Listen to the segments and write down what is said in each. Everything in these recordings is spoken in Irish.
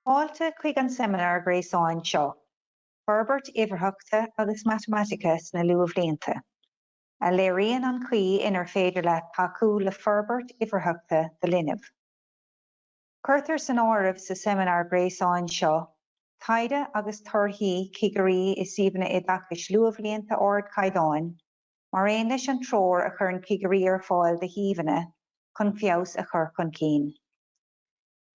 Fáilte chuig an seimineár gréasáin seo, Forbairt Uimhearthachta agus Matamaitice sna Luathbhlianta, a léiríonn an chaoi inar féidir leat tacú le forbairt uimhearthachta do linbh. Cuirtear san áireamh sa seimineár gréasáin seo taighde agus torthaí cigirí i suíomhanna oideachais luathbhlianta ardchaighdeáin, mar aon leis an treoir a chuireann cigirí ar fáil do shuíomhanna chun feabhas a chur chun cinn.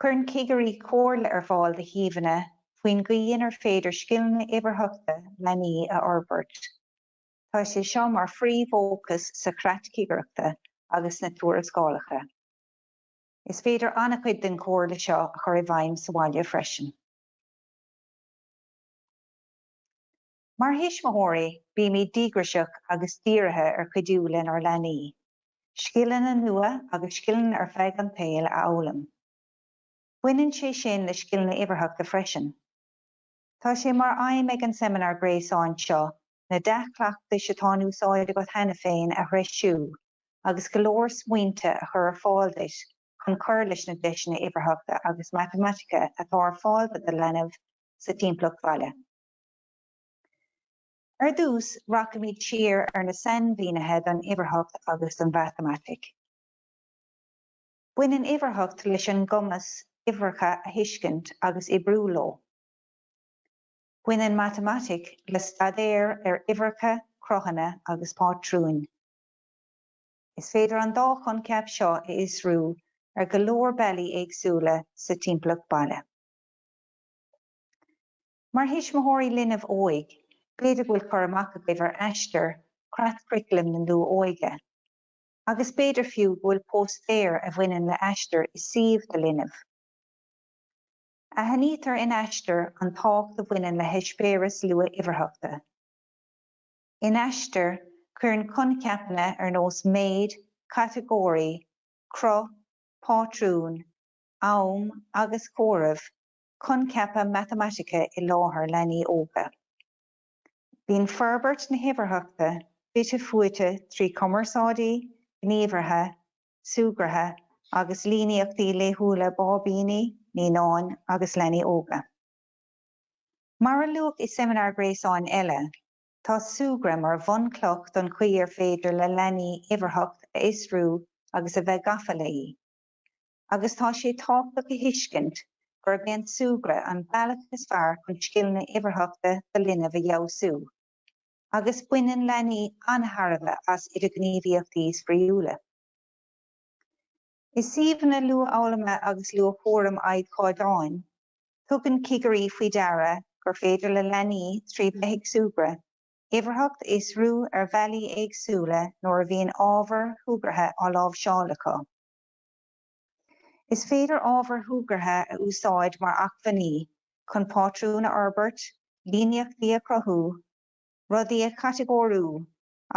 Cuireann cigirí comhairle ar fáil do shuíomhanna faoin gcaoi inar féidir scileanna uimhearthachta leanaí a fhorbairt. Tá sé seo mar phríomhfhócas sa Chreat Cigireachta agus na tuarascálacha. Is féidir an-chuid den chomhairle seo a chur i bhfeidhm sa bhaile freisin. Mar thuismitheoirí, bímid díograiseach agus dírithe ar chuidiú lenár leanaí scileanna nua agus scileanna ar feadh an tsaoil a fhoghlaim. Baineann sé sin le scileanna uimhearthachta freisin. Tá sé mar aidhm ag an seimineár gréasáin seo na dea-chleachtais atá in úsáid agat cheana féin a threisiú agus go leor smaointe a chur ar fáil duit chun cur leis na deiseanna uimhearthachta agus matamaitice atá ar fáil do do leanbh sa timpeallacht bhaile. Ar dtús, rachaimid siar ar na sainmhínithe don uimhearthacht agus don mhatamaitic. Baineann uimhearthacht leis an gcumas uimhreacha a thuiscint agus oibriú leo. Baineann matamaitic le staidéar ar uimhreacha, cruthanna agus pátrúin. Is féidir an dá choincheap seo a fhiosrú ar go leor bealaí éagsúla sa timpeallacht baile. Mar thuismitheoirí linbh óig, b'fhéidir go bhfuil cur amach agaibh ar Aistear, Creat Churaclaim na Luath-Óige, agus b'fhéidir fiú go bhfuil póstaer a bhaineann le Aistear i suíomh do linbh. Aithnítear in Aistear an tábhacht a bhaineann le heispéiris luath-uimhearthachta. In Aistear, cuireann coincheapanna ar nós méid, catagóirí, cruth, pátrún, am agus comhaireamh coincheapa matamaitice i láthair leanaí óga. Bíonn forbairt na huimhearthachta fite fuaite trí chumarsáidí, gníomhartha, súgartha agus líníochtaí laethúla báibíní, naíonáin agus leanaí óga. Mar a luadh i seimineár gréasáin eile, tá súgradh mar bhunchloch don chaoi ar féidir le leanaí uimhearthacht a fhiosrú agus a bheith gafa léi, agus tá sé tábhachtach a thuiscint gurb é an súgradh an bealach is fearr chun scileanna uimhearthachta do linbh a fheabhsú. agus baineann leanaí an-thairbhe as idirghníomhaíochtaí spraíúla. I suíomhanna luathfhoghlama agus luathchúraim ardchaighdeáin, tugann cigirí faoi deara gur féidir le leanaí, trí bheith ag súgradh, uimhearthacht a fhiosrú ar bhealaí éagsúla nuair a bhíonn ábhair shúgartha á láimhseáil acu. Is féidir ábhair shúgartha a úsáid mar acmhainní chun pátrúin a fhorbairt, líníochtaí a chruthú, rudaí a chatagóiriú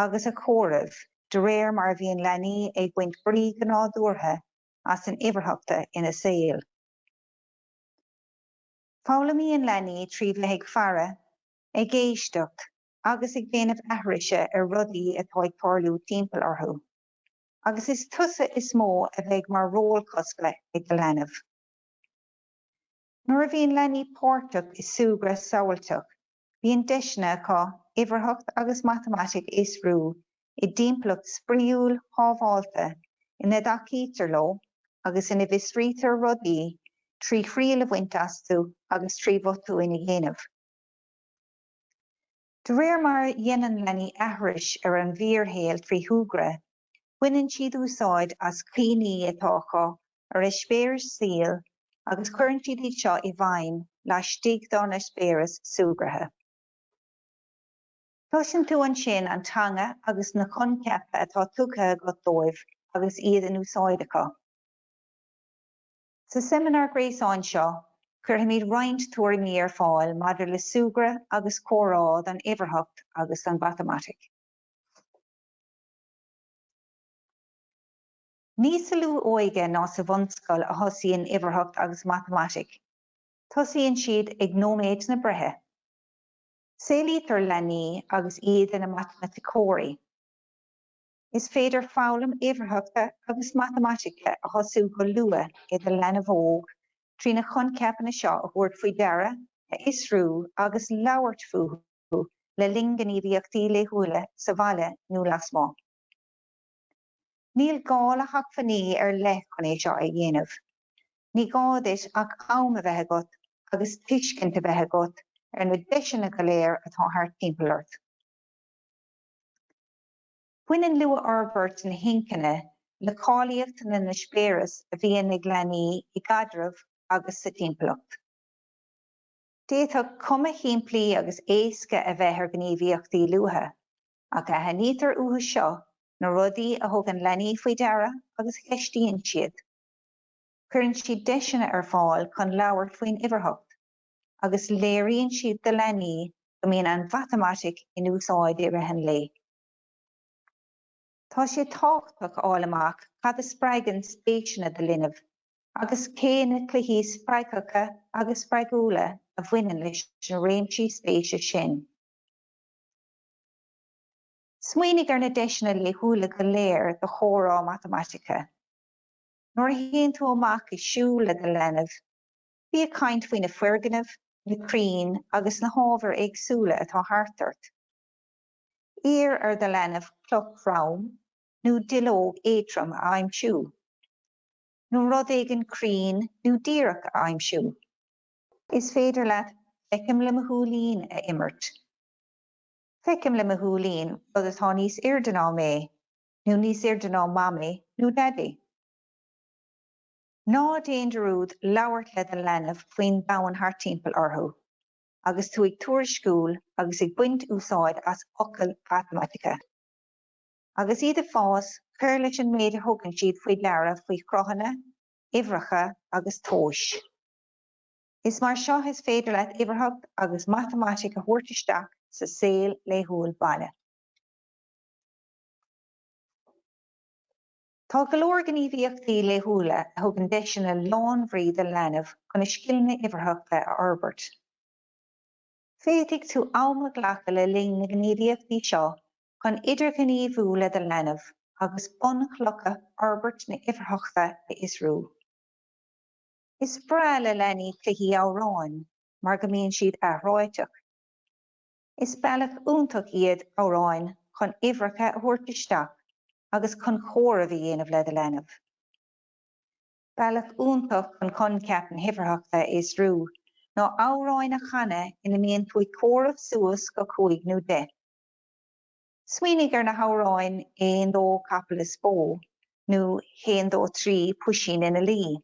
agus a chomhaireamh de réir mar a bhíonn leanaí ag baint brí go nádúrtha as an uimhearthachta ina saol. Foghlaimíonn leanaí trí bheith ag faire, ag éisteacht agus ag déanamh aithrise ar rudaí atá ag tarlú timpeall orthu. agus is tusa is mó a bheidh mar eiseamláir ag do leanbh. Nuair a bhíonn leanaí páirteach i súgradh samhailteach, bíonn deiseanna acu uimhearthacht agus matamaitic a fhiosrú i dtimpeallacht spraíúil shábháilte ina dtacaítear leo agus ina bhfiosraítear rudaí trí thriail a bhaint astu agus trí bhotúin a dhéanamh. De réir mar a dhéanann leanaí aithris ar an bhfíorshaol trí shúgradh, baineann siad úsáid as cuimhní atá acu ar eispéiris saoil agus cuireann siad iad seo i bhfeidhm laistigh dá n-eispéireas súgartha. Cloiseann tú ansin an teanga agus na coincheapa atá tugtha agat dóibh agus iad in úsáid acu. Sa seimineár gréasáin seo, cuirfimid roinnt tuairimí ar fáil maidir le súgradh agus comhrá don uimhearthacht agus don mhatamaitic. Ní sa luath-óige ná sa bhunscoil a thosaíonn uimhearthacht agus matamaitic, tosaíonn siad ag nóiméad na breithe. Saolaítear leanaí agus iad ina matamaiticeoirí. Is féidir foghlaim uimhearthachta agus matamaitice a thosú go luath le do leanbh óg trí na coincheapanna seo a thabhairt faoi deara, a fhiosrú agus labhairt fúthu le linn gníomhaíochtaí laethúla sa bhaile nó lasmuigh. Níl gá le hacmhainní ar leith chun é seo a dhéanamh. Ní gá duit ach am a bheith agat agus tuiscint a bheith agat ar na deiseanna go léir atá thart timpeall ort. Baineann luathfhorbairt na hinchinne le cáilíocht na n-eispéireas a bhíonn ag leanaí i gcaidreamh agus sa timpeallacht. D'fhéadfadh cuma shimplí agus éasca a bheith ar ghníomhaíochtaí luatha, ach aithnítear uathu seo na rudaí a thugann leanaí faoi deara agus a cheistíonn siad. Cuireann siad deiseanna ar fáil chun labhairt faoin uimhearthacht. agus léiríonn siad do leanaí go mbíonn an mhatamaitic in úsáid i rith an lae. Tá sé tábhachtach a fháil amach cad a spreagann spéiseanna do linbh agus cé na cluichí spreagthacha agus spreagúla a bhaineann leis na réimsí spéise sin. Smaoinigh ar na deiseanna laethúla go léir do chomhrá matamaitice. Nuair a théann tú amach ag siúl le do leanbh, Bí ag caint faoi na foirgnimh, na crainn agus na hábhair éagsúla atá thart ort. Iarr ar do leanbh cloch throm nó duilleog éadrom a aimsiú, nó rud éigin cruinn nó díreach a aimsiú. Is féidir leat Feicim le mo Shúilín a imirt. Feicim le mo shúilín rud atá níos airde ná mé, nó níos airde ná Mamaí nó Daidí. Ná déan dearúd labhairt le do leanbh faoin domhan thart timpeall orthu agus tú ag tuairisciú agus ag baint úsáid as focail mhatamaitice. Agus iad ag fás, cuir leis an méid a thugann siad faoi deara faoi chruthanna, uimhreacha agus tomhais. Is mar seo is féidir leat uimhearthacht agus matamaitic a thabhairt isteach sa saol laethúil baile. Tá go leor gníomhaíochtaí laethúla a thugann deiseanna lánbhrí do leanbh chun a scileanna uimhearthachta a fhorbairt. Féadfaidh tú am a ghlacadh le linn na ngníomhaíochtaí seo chun idirghníomhú le do leanbh agus bunchlocha fhorbairt na huimhearthachta a fhiosrú. Is breá le leanaí cluichí amhráin mar go mbíonn siad athráiteach. Is bealach iontach iad amhráin chun uimhreacha a thabhairt isteach agus chun comhaireamh a dhéanamh le do leanbh. Bealach iontach chun coincheap na huimhearthachta a fhiosrú ná amhráin a chanadh ina mbíonn tú ag comhaireamh suas go cúig nó deich. Smaoinigh ar na hamhráin Aon Dó Capall is Bó nó Haon Dó Trí Puisín ina Luí.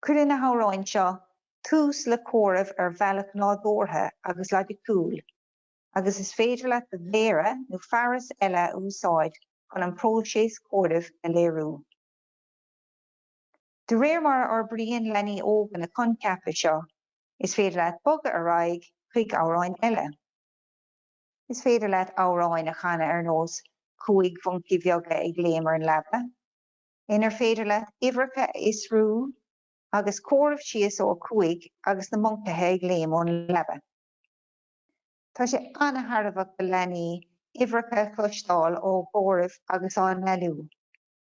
Cuireann na hamhráin seo tús le comhaireamh ar bhealach nádúrtha agus loighiciúil, agus is féidir leat do mhéara nó fearas eile a úsáid chun an próiseas comhairimh a léiriú. De réir mar a fhorbraíonn leanaí óga na coincheapa seo, is féidir leat bogadh ar aghaidh chuig amhráin eile. Is féidir leat amhráin a chanadh ar nós Cúig Mhoncaí Bheaga ag Léim ar an Leaba, inar féidir leat uimhreacha a fhiosrú agus comhaireamh síos ó 5 agus na moncaithe ag léim ón leaba. Tá sé an-tairbheach do leanaí uimhreacha a chloisteáil á gcomhaireamh agus á ndealú,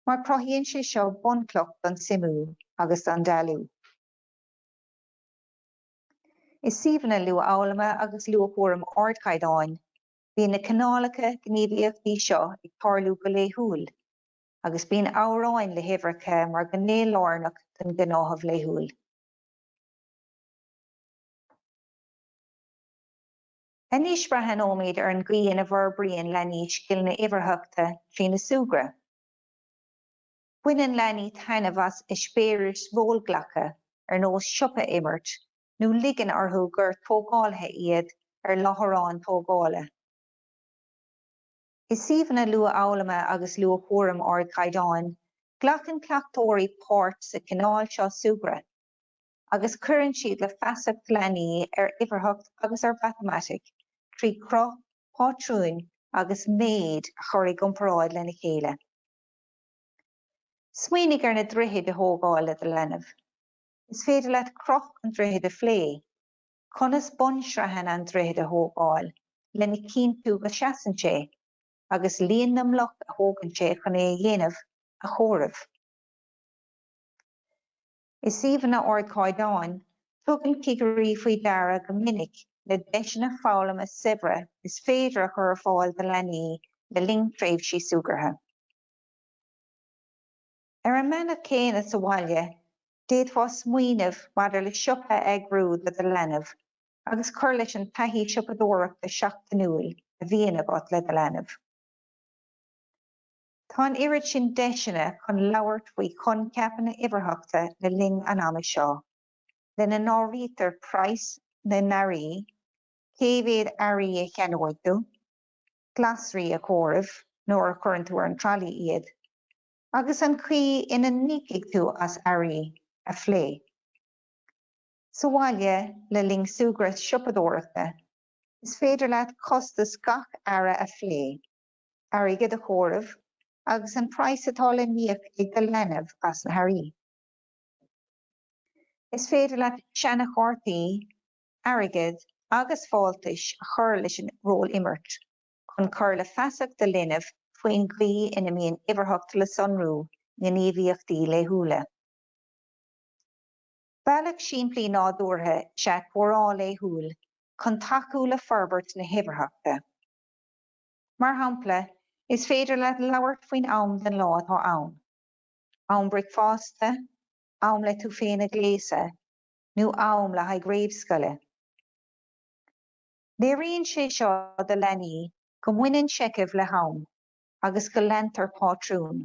mar cruthaíonn sé seo bunchloch don suimiú agus don dealú. I suíomhanna luathfhoghlama agus luathchúraim ardchaighdeáin, bíonn na cineálacha gníomhaíochtaí seo ag tarlú go laethúil. agus bíonn amhráin le huimhreacha mar gné lárnach den ghnáthamh laethúil. Anois breathnóimid ar an gcaoi ina bhforbraíonn leanaí scileanna uimhearthachta trína súgradh. Baineann leanaí taitneamh as eispéiris rólghlactha ar nós siopa a imirt nó ligeann orthu gur tógálaithe iad ar láithreán tógála. i suíomhanna luathfhoghlama agus luathchúraim ardchaighdeáin, glacann cleachtóirí páirt sa chineál seo súgradh agus cuireann siad le feasacht leanaí ar uimhearthacht agus ar mhatamaitic trí chruth, pátrún agus méid a chur i gcomparáid lena chéile. Smaoinigh ar na droichid a thógáil le do leanbh. Is féidir leat cruth an droichid a phlé. conas bunsraitheanna an droichid a thógáil lena chinntiú go seasann sé agus líon na mbloc a thógann sé chun é a dhéanamh a chomhaireamh. I suíomhanna ardchaighdeáin, tugann cigirí faoi deara go minic le deiseanna foghlama saibhre is féidir a chur ar fáil do leanaí le linn tréimhsí súgartha. Ar an mbealach céanna sa bhaile, d'fhéadfá smaoineamh maidir le siopa a eagrú le do leanbh agus cur leis an taithí siopadóireachta seachtainiúil a bhíonn agat le do leanbh. Tá an oiread sin deiseanna chun labhairt faoi choincheapanna uimhearthachta le linn an ama seo, lena n-áirítear praghas na n-earraí, cé mhéad earraí a cheannóidh tú, glasraí a chomhaireamh nuair a chuireann tú ar an tralaí iad, agus an chaoi ina n-íocfaidh tú as earraí a phlé sa bhaile le linn súgradh siopadóireachta, is féidir leat costas gach earra a phlé, airgead a chomhaireamh agus an praghas atá le n-íoc ag do leanbh as na hearraí. Is féidir leat seanachártaí airgid agus fáltais a chur leis an rólimirt. chun cur le feasacht do linbh faoin gcaoi ina mbíonn uimhearthacht le sonrú i ngníomhaíochtaí laethúla. Bealach simplí nádúrtha is ea comhrá laethúil chun tacú le forbairt na huimhearthachta. Mar shampla, is féidir leat labhairt faoin am den lá atá ann, am bricfeasta, am le tú féin a ghléasadh, nó am le haghaidh réamhscoile. Léiríonn sé seo do leanaí go mbaineann seicheamh le ham agus go leantar pátrúin.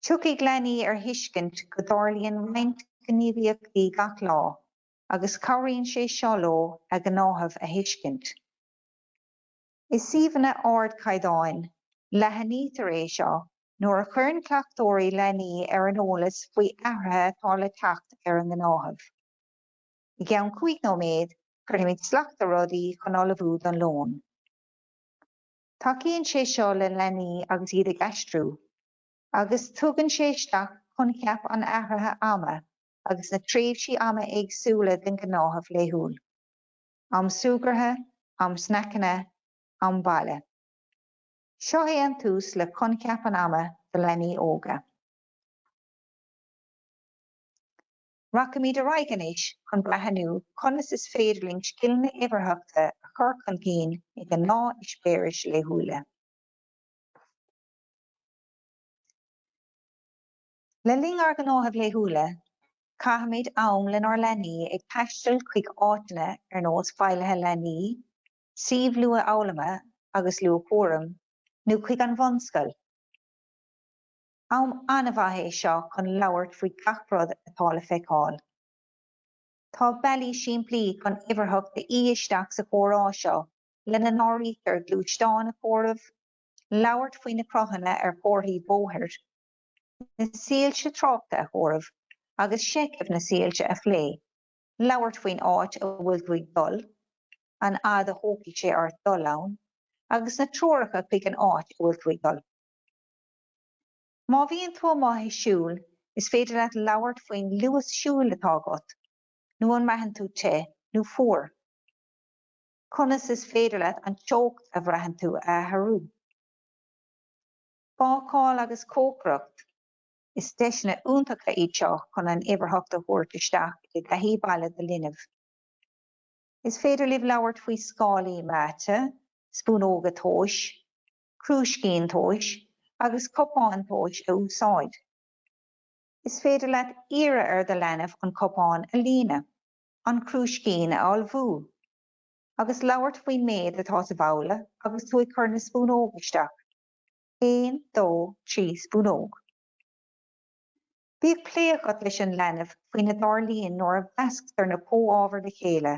Tiocfaidh leanaí ar thuiscint go dtarlaíonn roinnt gníomhaíochtaí gach lá agus cabhraíonn sé seo leo a ngnáthamh a thuiscint. I suíomhanna ardchaighdeáin, leathnaítear é seo nuair a chuireann cleachtóirí leanaí ar an eolas faoi athruithe atá le teacht ar a ngnáthamh. I gceann cúig nóiméad cuirfimid slacht ar rudaí chun ullmhú don lón. Tacaíonn sé seo le leanaí agus iad ag aistriú, agus tugann sé isteach coincheap an athraithe ama agus na tréimhsí ama éagsúla den gnáthamh laethúil, am súgartha, am snaiceanna, am baile. Seo é an tús le coincheap an ama do leanaí óga. Rachaimid ar aghaidh anois chun breathnú conas is féidir linn scileanna uimhearthachta a chur chun cinn i ngnáth-eispéiris laethúla. Le linn ár ngnáthaimh laethúla, caithimid am lenár leanaí ag taisteal chuig áiteanna ar nós feighlithe leanaí, suímh luathfhoghlama agus luathchúraim, nó chuig an bhunscoil. Am an-mhaith é seo chun labhairt faoi gach rud atá le feiceáil. Tá bealaí simplí chun uimhearthacht a fhí isteach sa chomhrá seo, lena n-áirítear gluaisteáin a chomhaireamh, labhairt faoi na cruthanna ar chomharthaí bóthair, na soilse tráchta a chomhaireamh agus seicheamh na soilse a phlé, labhairt faoin áit a bhfuil tú ag dul, an fhad a thógfaidh sé ort dul ann, agus na treoracha chuig an áit a bhfuil tú ag dul. Má bhíonn tú amuigh ag siúl, is féidir leat labhairt faoin luas siúl atá agat, nó an mbraitheann tú te nó fuar. Conas is féidir leat an teocht a bhraitheann tú a athrú? Bácáil agus cócaireacht, is deiseanna iontacha iad seo chun an uimhearthacht a thabhairt isteach i dtaithí baile do linbh. Is féidir libh labhairt faoi scálaí meáite, spúnóga tomhais, crúiscín tomhais agus cupán tomhais a úsáid. Is féidir leat iarraidh ar do leanbh an cupán a líonadh, an crúiscín a fholmhú, agus labhairt faoin méid atá sa bhabhla agus tú ag cur na spúnóg isteach, 1, 2, 3 spúnóg. Bíodh plé agat leis an leanbh faoina dtarlaíonn nuair a meascar na comhábhair le chéile.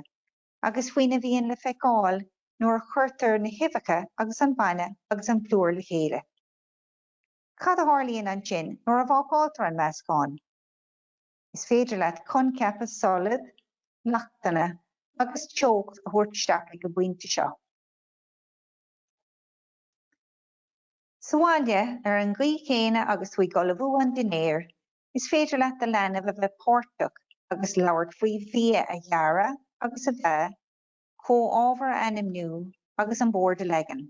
agus faoina bhíonn le feiceáil nuair a chuirtear na huibheacha agus an bainne agus an plúr le chéile. Cad a tharlaíonn ansin nuair a bhácáiltear an meascán? Is féidir leat coincheapa solad, leachtanna agus teocht a thabhairt isteach ag an bpointe seo. Sa bhaile, ar an gcaoi chéanna agus tú ag ullmhú an dinnéir, Is féidir leat do leanbh a bheith páirteach agus labhairt faoi bhia a ghearradh agus a bheith, comhábhar a ainmniú agus an bord a leagan.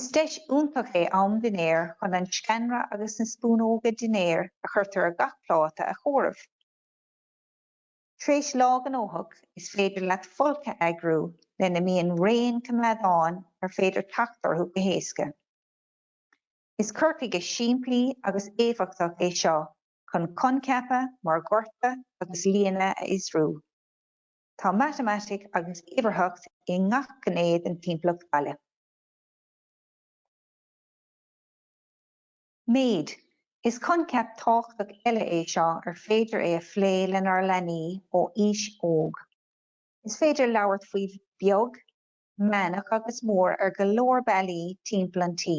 Is deis iontach é am dinnéir chun an sceanra agus na spúnóga dinnéir a chuirtear ar gach pláta a chomhaireamh. Tar éis lá gnóthach, is féidir leat folcadh a eagrú lena mbíonn raon coimeádáin ar féidir teacht orthu go héasca. Is cur chuige simplí agus éifeachtach é seo chun coincheapa mar dhortadh agus líonadh a fhiosrú. Tá matamaitic agus uimhearthacht i ngach gné den timpeallacht bhaile. Méid, Is coincheap tábhachtach eile é seo ar féidir é a phlé lenár leanaí ó aois óg. Is féidir labhairt faoi bheag meánach agus mór ar go leor bealaí timpeall an tí.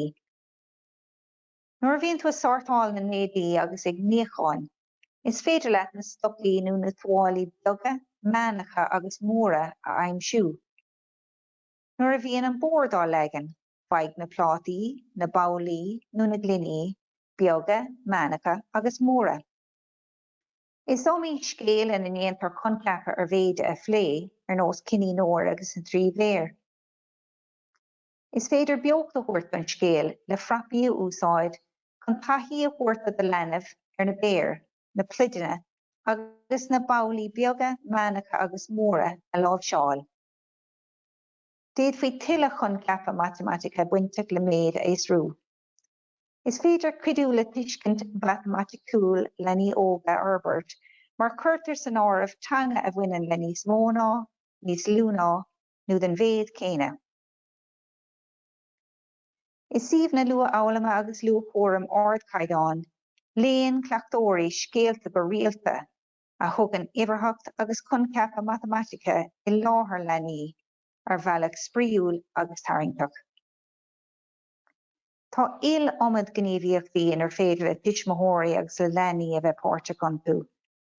Nuair a bhíonn tú ag sórtáil na n-éadaí agus ag níochán, is féidir leat na stocaí nó na tuáillí beaga, meánacha agus móra a aimsiú. Nuair a bhíonn an bord á leagan, faigh na plátaí, na babhlaí nó na gloiní beaga, meánacha agus móra. Is iomaí scéal ina ndéantar coincheapa ar mhéide a phlé, ar nós Cinín Óir agus na Trí Bhéar. Is féidir beocht a thabhairt don scéal le frapaí a úsáid chun taithí a thabhairt do do leanbh ar na béir, na pluideanna agus na babhlaí beaga, meánacha agus móra a láimhseáil. D'fhéadfaí tuilleadh coincheapa matamaitice bainteach le méid a fhiosrú. Is féidir cuidiú le tuiscint mhatamaiticiúil leanaí óga a fhorbairt mar cuirtear san áireamh teanga a bhaineann le níos mó ná, níos lú ná, nó den mhéid céanna. I suíomhanna luathfhoghlama agus luathchúraim ardchaighdeáin, léann cleachtóirí scéalta go rialta, a thugann uimhearthacht agus coincheapa matamaitice i láthair leanaí ar bhealach spraíúil agus tarraingteach. Tá iliomad gníomhaíochtaí inar féidir le tuismitheoirí agus le leanaí a bheith páirteach iontu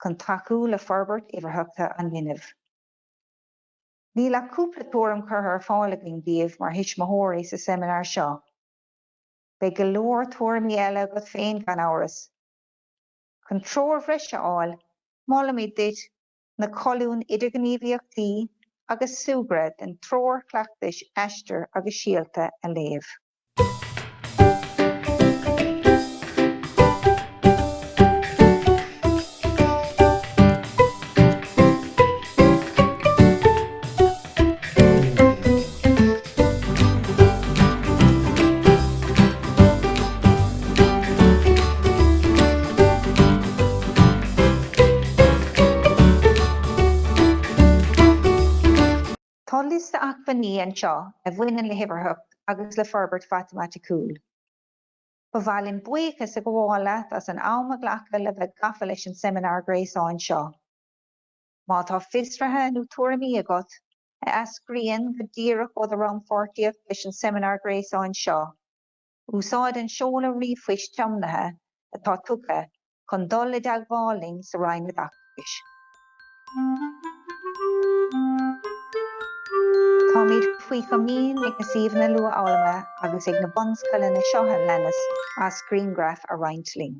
chun tacú le forbairt uimhearthachta an linbh. Níl ach cúpla tuairim curtha ar fáil againn daoibh mar thuismitheoirí sa seimineár seo. Beidh go leor tuairimí eile agat féin gan amhras. Chun treoir bhreise a fháil, molaimid duit. na colúin Idirghníomhaíochtaí agus Súgradh den Treoir Chleachtais Aistir agus Síolta a léamh. Tá liosta acmhainní anseo a bhaineann le hUimhearthacht agus le Forbairt Mhatamaiticiúil. Ba mhaith linn buíochas a ghabháil leat as an am a ghlacadh le bheith gafa leis an seimineár gréasáin seo. Má tá fiosruithe nó tuairimí agat a eascraíonn go díreach ó do rannpháirtíocht leis an seimineár gréasáin seo, úsáid an seoladh ríomhphoist tiomnaithe atá tugtha chun dul i dteagmháil linn sa Roinn Oideachais. Táimid faoi chomaoin ag na suíomhanna luathfhoghlama agus ag na bunscoileanna seo a leanas as grianghraif a roinnt linn.